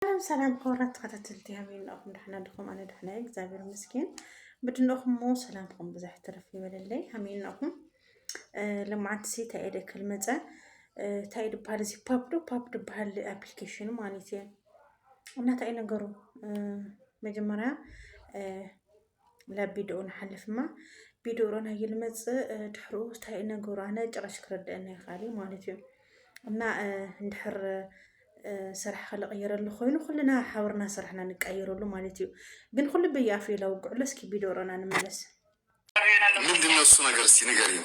ሰላም ሰላም ክቡራት ተኸታተልቲ ከመይ እንኹም ዳሕና ድኹም ኣነ ዳሕና እየ እግዚኣብሔር ይመስገን ብድንኹም እሞ ሰላምኩም ብዙሕ ትርፍ ይበለለይ ከመይ እንኹም ልምዓት ሲ እንታይ እየ ደክል መፀ እንታይ ድበሃል እዚ ፓፕ ዶ ፓፕ ድበሃል ኣፕሊኬሽኑ ማለት እየ እና እንታይ ነገሩ መጀመርያ ላ ቢድኡ ንሓልፍ እማ ቢድኡ ሮና ይልመፅእ ድሕርኡ እንታይ ነገሩ ኣነ ጭራሽ ክረድአና ይኽኣል እዩ ማለት እዩ እና እንድሕር ስራሕ ክልቕይረሉ ኮይኑ ኩልና ሓብርና ስራሕና ንቀይረሉ ማለት እዩ ግን ኩሉ በየኣፍ እዩ ለውግዕሎ እስኪ ቢድኡ ሮና ንመለስ ምንድነው እሱ ነገር እስኪ ንገሪኝ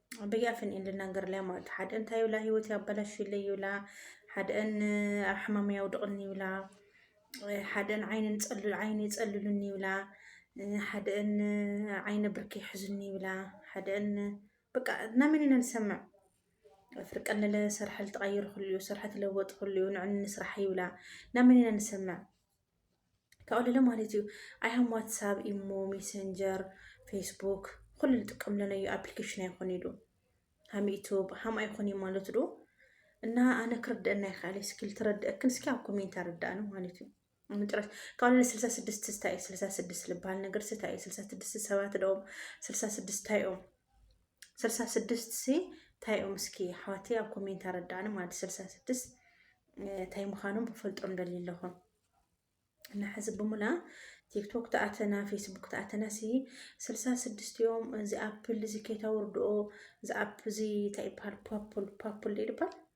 በያፍን እየን ልናገርለያ ማለት እዩ ሓደአን እንታይ ይብላ ህይወት ያበላሽለይ ይብላ ሓደአን ኣብ ሕማም ያውድቕኒ ይብላ ሓደአን ዓይነ ፀልሉ ዓይነ ይፀልሉኒ ይብላ ሓደአን ዓይነ ብርኪ ይሕዙኒ ይብላ ሓደአን በቃ ናመን ኢና ንሰምዕ ፍርቂ ኣለለ ስራሕ ልተቐይሩ ክልኡ ስራሕ ተለወጡ ክልኡ ንዕኒ ንስራሕ ይብላ ናመን ኢና ንሰምዕ ካብኡ ማለት እዩ ኣይሃም ዋትሳብ ኢሞ ሜሰንጀር ፌስቡክ ኩሉ ንጥቀም ለነዩ ኣፕሊኬሽን ኣይኮን ኢሉ ሃም ዩቱብ ሃም ኣይኮን እዩ ማለት ዶ እና ኣነ ክርደአና ይካለ እስኪ ልትረድአክን እስኪ ኣብ ኮሜንት ኣረዳእነ ማለት እዩ ምጥረት ካብ ለ ስልሳ ስድስት ስታይ ስልሳ ስድስት ልበሃል ነገር ስታይ ስልሳ ስድስት ሰባት ደኦም ስልሳ ስድስት ታይኦም ስልሳ ስድስት ሲ እንታይ እዮም እስኪ ኣሕዋተይ ኣብ ኮሜንት ኣረዳእኒ ማለት ስልሳ ስድስት እንታይ ምዃኖም ክፈልጦም ደልዩ ኣለኹ እና ሕዚ ብሙላ ቲክቶክ ተኣተና ፌስቡክ ተኣተና ሲ ስልሳ ስድስት እዮም እዚ ኣፕል እዚ ከይታወርድኦ እዚ ኣፕ እዚ እንታይ ይበሃል ፓፕል ፓፕል ይበሃል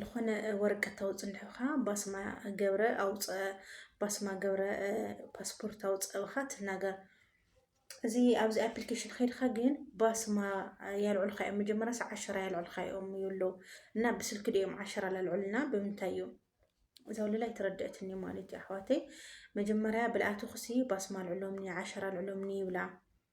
ልኾነ ወረቀት ታውፅ እንድሕኻ ባስማ ገብረ ኣውፀ ባስማ ገብረ ፓስፖርት ኣውፀ ብኻ ትናገር እዚ ኣብዚ ኣፕሊኬሽን ከይድካ ግን ባስማ ያልዑልካ እዮም መጀመሪያ ሰ ዓሸራ ያልዑልካ እዮም ይብሉ እና ብስልክ ድኦም ዓሸራ ላልዑልና ብምንታይ እዩ እዛ ወለላ ኣይተረድአትኒ ማለት እዩ ኣሕዋተይ መጀመሪያ ብልኣቱ ክሲ ባስማ ኣልዑሎምኒ ዓሸራ ኣልዑሎምኒ ይብላ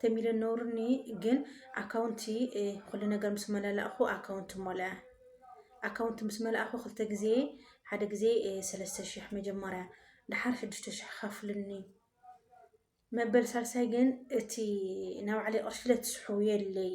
ተሚለ ነውርኒ ግን ኣካውንቲ ኩሉ ነገር ምስ መላላእኹ ኣካውንቲ ሞልኣ ኣካውንቲ ምስ መላእኹ ክልተ ግዜ ሓደ ግዜ ሰለስተ ሽሕ መጀመርያ ድሓር ሽዱሽተ ሽሕ ከፍልኒ መበል ሳልሳይ ግን እቲ ናባዕለይ ቅርሺ ለትስሑ የለይ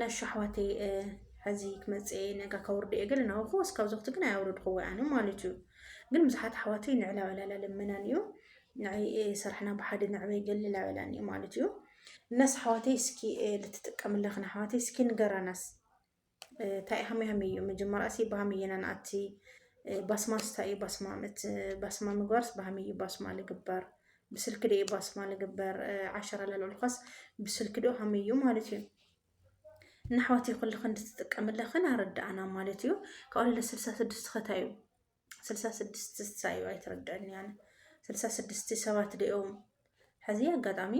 ነሹ ኣሕዋተይ ሕዚ ክመፅእ እየ ነጋ ከውርድ እየ ግን ናውኹ እስካብ ዘኽቲ ግን ኣያውርድክዎ ኣነ ማለት እዩ ግን ብዙሓት ኣሕዋተይ ንዕላ ዕላላ ልመናን እዩ ንዓይ ስራሕና ብሓደ ንዕበይ ገለላ ዕላን እዩ ማለት እዩ እናስ ኣሕዋተይ እስኪ ልትጥቀምላ ክን ኣሕዋተይ እስኪ ንገራናስ እንታይ ሃመ ሃመ እዩ መጀመርያስ ብሃመ እየና ንኣቲ ባስማስ እንታይ እዩ ባስማ ባስማ ምግባርስ ብሃመ እዩ ባስማ ልግበር ብስልኪ ዶ ባስማ ንግበር ዓሸራ ለልዕልኳስ ብስልኪ ዶ ሃመይ እዩ ማለት እዩ ንኣሕዋትይ ኩልኽ እንድትጥቀምለኽን ኣረዳእና ማለት እዩ ካብኡ ለ ስልሳ ስድስት ኸታ እዩ ስልሳ ስድስት ስሳ እዩ ኣይትረድዕን ያነ ስልሳ ስድስት ሰባት ደኦም ሕዚ ኣጋጣሚ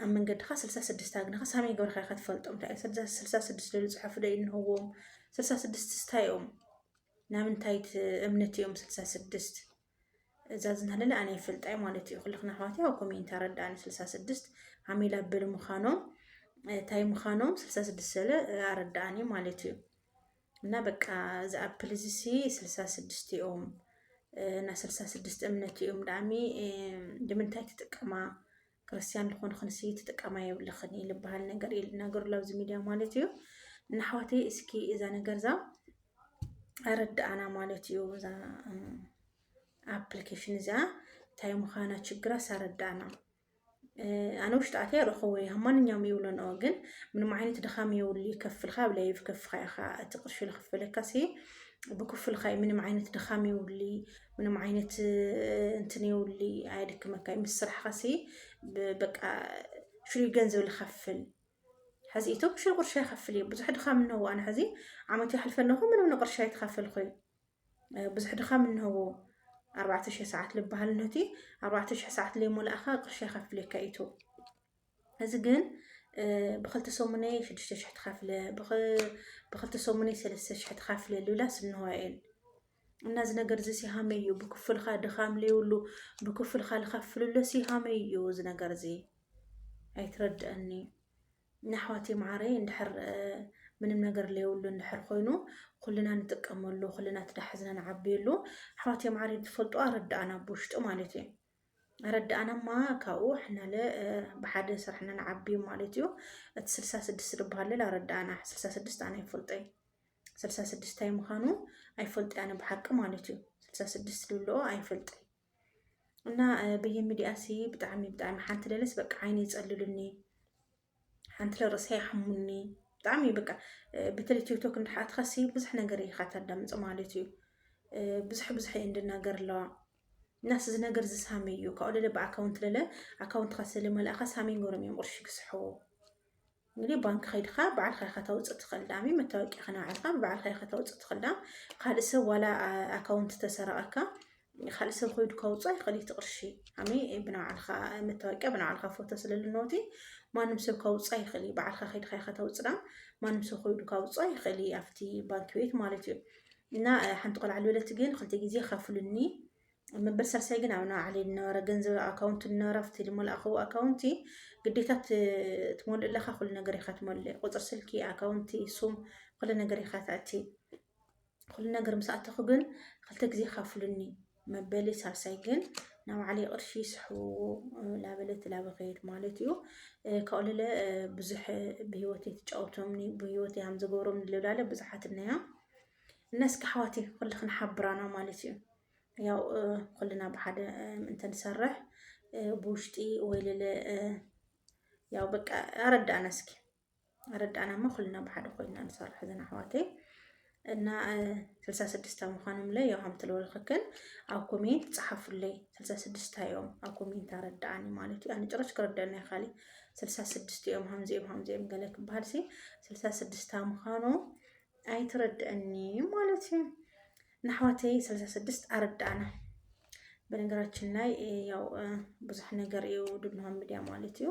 ኣብ መንገድኻ ስልሳ ስድስት ኣግንኻ ሳመይ ገበርካ ከትፈልጦም እንታይ እዩ ስልሳ ስድስት ልሉ ፅሑፍ ዶ ይንህዎም ስልሳ ስድስት ስታይ እዮም ናምንታይ እምነት እዮም ስልሳ ስድስት እዛ ዝናለለ ኣነ ይፈልጣ እዩ ማለት እዩ ኩልክን ኣሕዋትይ ኣብ ኮሜንት ኣረዳእኒ ስልሳ ስድስት ዓሚል ኣብል ምዃኖም እንታይ ምዃኖም ስልሳ ስድስት ሰለ ኣረዳእኒ ማለት እዩ እና በቃ እዚ ኣፕል እዚ ሲ ስልሳ ስድስት እዮም እና ስልሳ ስድስት እምነት እዮም ዳኣሚ ንምንታይ ትጥቀማ ክርስትያን ዝኾንክንሲ ትጥቀማ የብልኽን እዩ ልበሃል ነገር እዩ ልናገር ኣሎ ኣብዚ ሚድያ ማለት እዩ እና ኣሕዋተይ እስኪ እዛ ነገር እዛ ኣረዳኣና ማለት እዩ እዛ ኣፕሊኬሽን እዚኣ እንታይ ምዃና ችግራስ ኣረዳኣና ኣነ ውሽጢ ኣትያ ረኸቦ እየ ማንኛውም ይብለንኦ ግን ምንም ዓይነት ድኻም የብሉ ይከፍልካ ኣብ ላይ ብከፍኻ ኢኻ እቲ ቅርሺ ዝኽፈለካሲ ብክፍልካ ምንም ዓይነት ድኻም የብሉ ምንም ዓይነት እንትን የውሊ ኣየድክመካ እዩ ምስ ስራሕኻሲ በቃ ሽሉይ ገንዘብ ዝኸፍል ሕዚ ኢቶም ሽሉ ቅርሻ ይኸፍል እዩ ብዙሕ ድኻም እንሆዎ ኣነ ሕዚ ዓመት ይሓልፈ ኣለኹ ምንም ንቅርሻ ይተኸፈልኩ እዩ ብዙሕ ድኻም እንሆዎ ኣርባዕተ ሽሕ ሰዓት ልበሃል ነቲ ኣርባዕተ ሽሕ ሰዓት ለይሞላእኻ ቅርሻ ይኸፍለካ ኢቱ እዚ ግን ብክልተ ሰሙነይ ሽዱሽተ ሽሕ ትኸፍለ ብክልተ ሰሙነይ ሰለስተ ሽሕ ትኸፍለ ልብላስ እንሆ እየን እና እዚ ነገር እዚ ሲሃመይ እዩ ብክፍልካ ድኻም ለይብሉ ብክፍልካ ልኸፍልሎ ሲሃመይ እዩ እዚ ነገር እዚ ኣይትረድአኒ ናሕዋተይ መዓረይ እንድሕር ምንም ነገር ለየብሉ እንድሕር ኮይኑ ኩልና ንጥቀመሉ ኩልና ትዳሕዝና ንዓብየሉ ኣሕዋተይ መዓረይ ትፈልጡ ኣረዳእና ብውሽጡ ማለት እዩ ረዳእና እማ ካብኡ ሕናለ ብሓደ ስራሕና ንዓቢ ማለት እዩ እቲ ስልሳ ስድስት ዝበሃል ሌላ ረዳእና ስልሳ ስድስት ኣነ ይፈልጦይ ስልሳ ስድስት ታይ ምዃኑ ኣይፈልጥ ኣነ ብሓቂ ማለት እዩ ስልሳ ስድስት ልብልኦ ኣይፈልጥይ እና በየሚዲያ ሲ ብጣዕሚ ብጣዕሚ ሓንቲ ለለስ በቃ ዓይነ ይፀልሉኒ ሓንቲ ርእሰ ይሓሙኒ ብጣዕሚ እዩ በቃ በተለይ ቲክቶክ እንዳሓትካሲ ብዙሕ ነገር ኢኻ ታዳምፅ ማለት እዩ ብዙሕ ብዙሕ እየ እንድናገር ኣለዋ እናስ እዚ ነገር እዚ ሳሚ እዩ ካብኡ ደለ ብኣካውንት ደለ ኣካውንትካ ስለ መልእኻ ሳሚ ገሮም እዮም ቅርሺ ክስሕዎ እንግዲህ ባንክ ከይድካ በዓልካ ኢኻ ታውፅእ ትኽእል ዳሚ መታወቂያ ከናባዕልካ ብበዓልካ ኢኻ ታውፅእ ትኽእል ዳም ካልእ ሰብ ዋላ ኣካውንት ተሰረቐካ ካልእ ሰብ ኮይዱ ከውፅኦ ይኽእል እቲ ቅርሺ ኣሜ ብናባዕልኻ መታወቂያ ብናባዕልኻ ፎቶ ስለልነውቲ ማንም ሰብ ከውፃ ይኽእል እዩ በዓልካ ከይድካ ኢኻ ተውፅና ማንም ሰብ ኮይዱ ከውፃ ይኽእል እዩ ኣብቲ ባንኪ ቤት ማለት እዩ እና ሓንቲ ቆልዓ ልበለት ግን ክልተ ግዜ ከፍሉኒ መበል ሳልሳይ ግን ኣብ ናባዕለ ዝነበረ ገንዘብ ኣካውንቲ ዝነበረ ኣብቲ ዝመልኣኸው ኣካውንቲ ግዴታ ትመልእ ኣለካ ኩሉ ነገር ኢኻ ትመልእ ቁፅሪ ስልኪ ኣካውንቲ ሱም ኩሉ ነገር ኢኻ ተእቲ ኩሉ ነገር ምስ ኣተኹ ግን ክልተ ግዜ ካፍሉኒ መበሊ ሳልሳይ ግን ናብ ባዕለይ ቅርሺ ይስሕብዎ ላበለት ላበኸየድ ማለት እዩ ካብኡ ልለ ብዙሕ ብሂወተይ ትጫወቶምኒ ብሂወተይ ሃም ዝገብሮም ልላለ ብዙሓት እነያ እና እስኪ ኣሕዋት ኩልኽን ሓብራና ማለት እዩ ያው ኩልና ብሓደ ምእንተ ንሰርሕ ብውሽጢ ወይ ልለ ያው በቃ ኣረዳእና እስኪ ኣረዳእናማ ኩልና ብሓደ ኮይና ንሰርሕ ዘን ኣሕዋተይ እና ስልሳ ስድስታ ምዃኖም ለ ያው ሃምቲ ለወልክክን ኣብ ኮሜንት ፀሓፉለይ ስልሳ ስድስታ እዮም ኣብ ኮሜንት ኣረዳእኒ ማለት እዩ ኣነ ጭራሽ ክረዳእና ይካል ስልሳ ስድስት እዮም ሃምዚኦም ሃምዚኦም ገለ ክበሃል ሲ ስልሳ ስድስታ ምዃኑ ኣይትረድእኒ ማለት እዩ ንኣሕዋተይ ስልሳ ስድስት ኣረዳእና በነገራችን ላይ ያው ብዙሕ ነገር እዩ ድንሆ ሚዲያ ማለት እዩ